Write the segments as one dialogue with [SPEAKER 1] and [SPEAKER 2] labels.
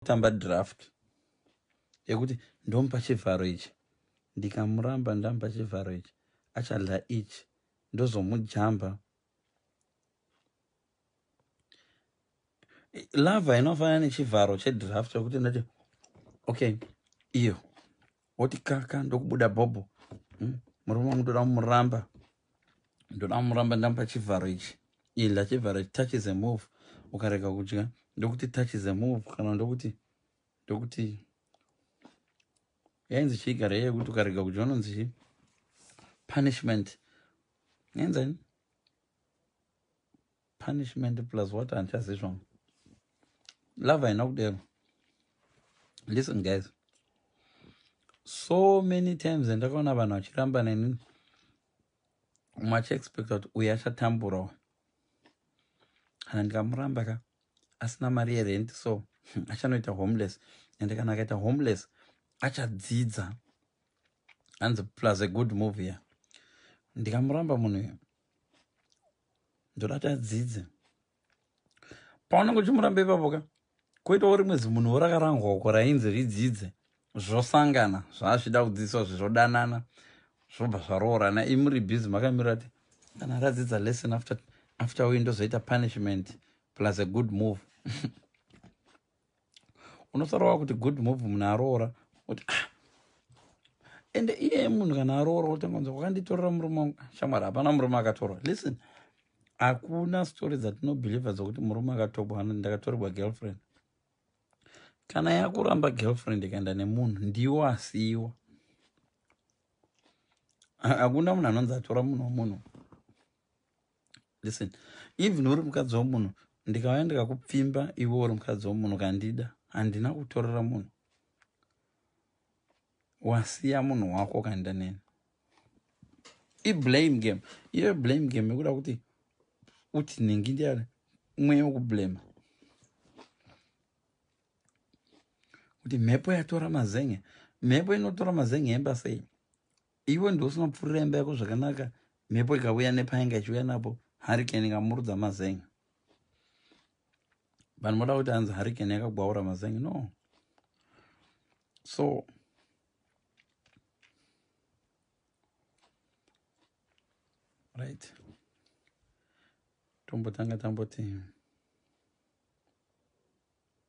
[SPEAKER 1] tamba draft yekuti ndomupa chivharo ichi ndikamuramba ndamupa chivharo ichi achadla ichi ndozomujamba lava inofanana nechivharo chedraft yekuti ndati okay iyo woti kaka ndokubuda bhobho hmm? murume wangu ndoda kumuramba ndoda kumuramba ndamupa chivharo ichi idla chivharo ichi touch is a move ukarega kudya ndokuti touch is a move kana ndokuti ndokuti yainzi chiigara iye yekuti ukarega kudya unonzi chii punishment nenzani punishment plus what handichazivi zvangu love haina kudero listen guys so many times andakaona vanhu vachiramba neni umwe achiexpecta kuti uyu achatamburawo kana ndikamuramba ka asina mari yerent so achanoita homeless and kana akaita homeless achadzidza hanzi plus a good move ya ndikamuramba munhu uyu ndorati adzidze paunenge uchimuramba ipapo ka koitawo rimwe zimunhu worakarangwa uko rainzi ridzidze zvosangana zvaazvida kudzidziswa zvizodanana zvobva zvaroorana imuri busy makamirira ti kana radzidza lesson after after uyu ndozoita punishment plus a good move unotaura wa kuti good move munhu aroora kuti ah ende iye munhu kana aroora utangonza wakanditorera murume wangu shamwari hapana murume akatorwa listen hakuna story dzatinobhilivha dzokuti murume akatobwa ano ndakatorerwa girlfriend kana yakuramba girlfriend ikaenda nemunhu ndiwo asiiwa hakuna munhu anonzi atora munhu womunhu listen even uri mukadzi wemunhu ndikauya ndikakupfimba iwe uri mukadzi wemunhu kandida handina kutorera munhu wasiya munhu wako kandida neni iblame game iyo blame game yekuda kuti uti nhingi ndiyani mweya wekublema kuti mhepo yatora mazenge mhepo inotora mazenge emba sei Iwe ndiwe usino pfurira imba yako zvakanaka mhepo ikavuya nepainga ichiuya napo hurricane ikamurudza mazeng vanhu voda kuti hanzi hurricane yakagwaura mazeng no so right tombotanga tamboti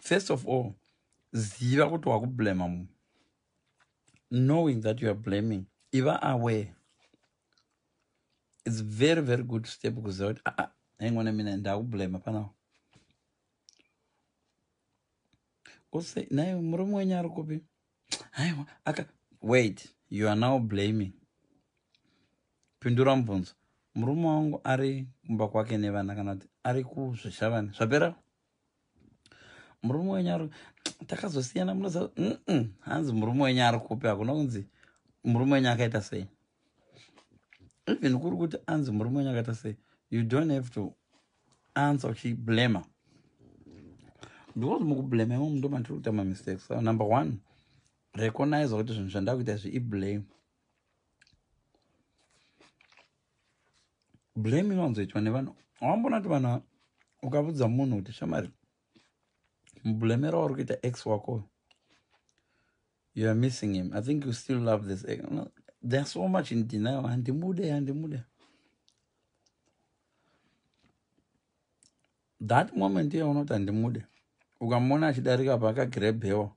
[SPEAKER 1] first of all ziva kuti wakublema munhu knowing that you are blaming iva aware its very very good step kuziva kuti aa ah, haingona ah, mina ndakublema panawo ose naye murume wenyu ari kupi aiwa aka wait you are now blaming pindura mubvunzo murume wangu ari kumba kwake nevana kana kuti ari kuzvishavani zvapera murume wenyu ari takazosiyana munoziva hanzi murume wenyu ari kupi hakuna kunzi murume wenyu akaita sei even kuri kuti anzi murume wenyu akaita sei you don't have to anza uchiblema because mukublema imo mundo matiri kuita mamistakes so number one recognize kuti zvinhu zvandakuita izvi iblame blame inowanzoitwa nevanhu awambona kuti vanhu ukavudza munhu kuti shamari mublemera wauri kuita x wako You are missing him. I think you still love this. No, they're so much in denial. Handimude, handimude. That moment iye unoti handimude. Ukamona achidarika pa akagrebhewa.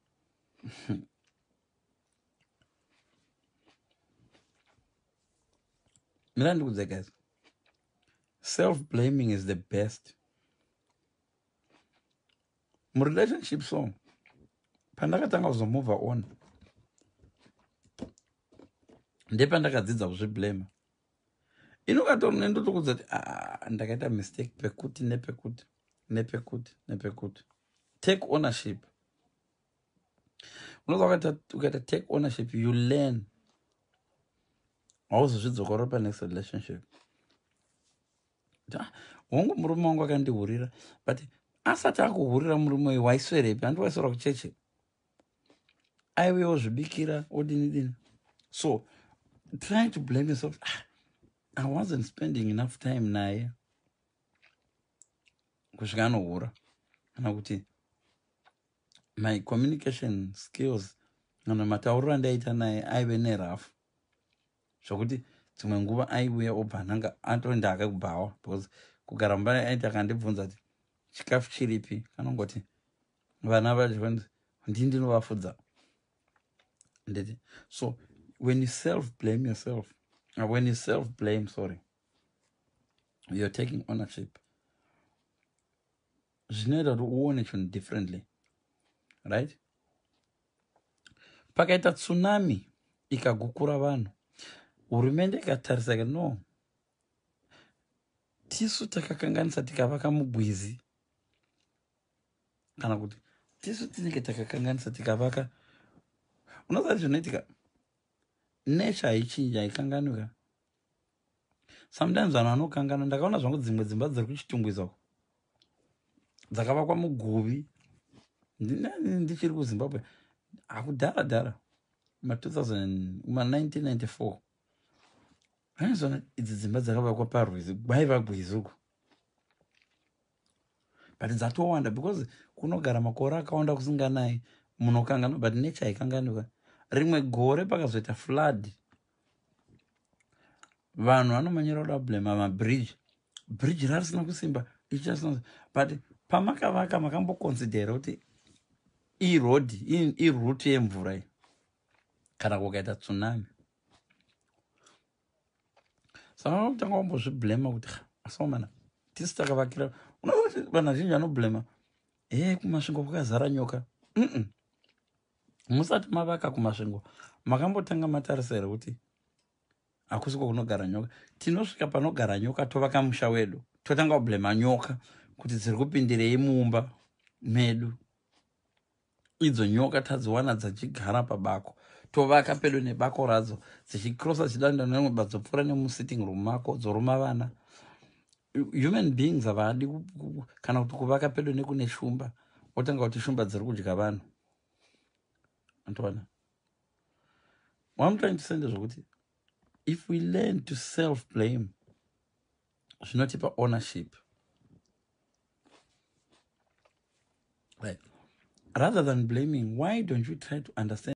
[SPEAKER 1] Mira ndikudze guys. Self blaming is the best. murelationship so pandakatanga kuzomove on ndepandakadzidza kuzviblema inokatori nendotokudza kuti ah, ndakaita mistake pekuti nepekuti nepekuti nepekuti take ownership unoza ukaita take ownership you learn hauzozvidzokorora panext relationship hongu murume wangu akandihurira but asati akuhurira murume uyu waiswerepi handi waiswera kucheche aive ozvibikira odini dini so trying to blame yourself ah, i wasn't spending enough time naye kusvika anohura kana kuti my communication skills kana matauriro andaiita naye aive nerafu zvokuti dzimwe nguva aiuya obva ananga atoenda hake kubhawa because kugara mumba aiti akandibvunza ti chikafu chiripi kanongoti vana vachionzi ndii ndinovafudza nditi so when you self blame yourself uh, when you self blame sorry you're taking ownership zvinoita kuti uone chinhu differently right pakaita tsunami ikagukura vanhu hurumende ikatarisa ka no tisu takakanganisa tikavaka mugwizi kana kuti tisu tinenge takakanganisa tikavaka unoziva zvinoitika nature haichinja haikanganwika sometimes vanhu vanokangana ndakaona zvangu dzimwe dzimba dziri kuchitungwiza uko dzakavakwa muguvi ndichiri kuzimbabwe akudhara dhara ma 1994 aizona idzi dzimba dzakavakwa parwizi kwaiva gwizi uko but dzatowanda because kunogara makore akawanda kusinganayi munokangana but nature haikanganika rimwe gore pakazoita flood vanhu vanomanyira kuda kublema mabridge bridge rarisina kusimba ichasina but pamakavaka makamboconsidera kuti iroad iroute yemvura iyi kana kukaita tsunami saka vakutanga vambozviblema kuti asaomana tisi takavakira unoona kuti vanhu vazhinji vanoblema he kumasvingo kwakazara nyoka mm -mm. musati mavaka kumasvingo makambotanga matarisa here kuti hakusi kwakunogara nyoka tinosvika panogara nyoka tovaka musha wedu totanga kublema nyoka kuti dziri kupindirei mumba medu idzo nyoka tadziwana dzachigara pabako tovaka pedo nebako radzo dzichikrosa dzichidanda nemwe badzopfuura nemusitting room mako dzoruma vana human beings havadi kana kuti kuvaka pedo nekune shumba otanga kuti shumba dziri kudya vanhu antoona wamutrying to say ndezvokuti if we learn to self blame zvinotipa ownership right rather than blaming why don't you try to understand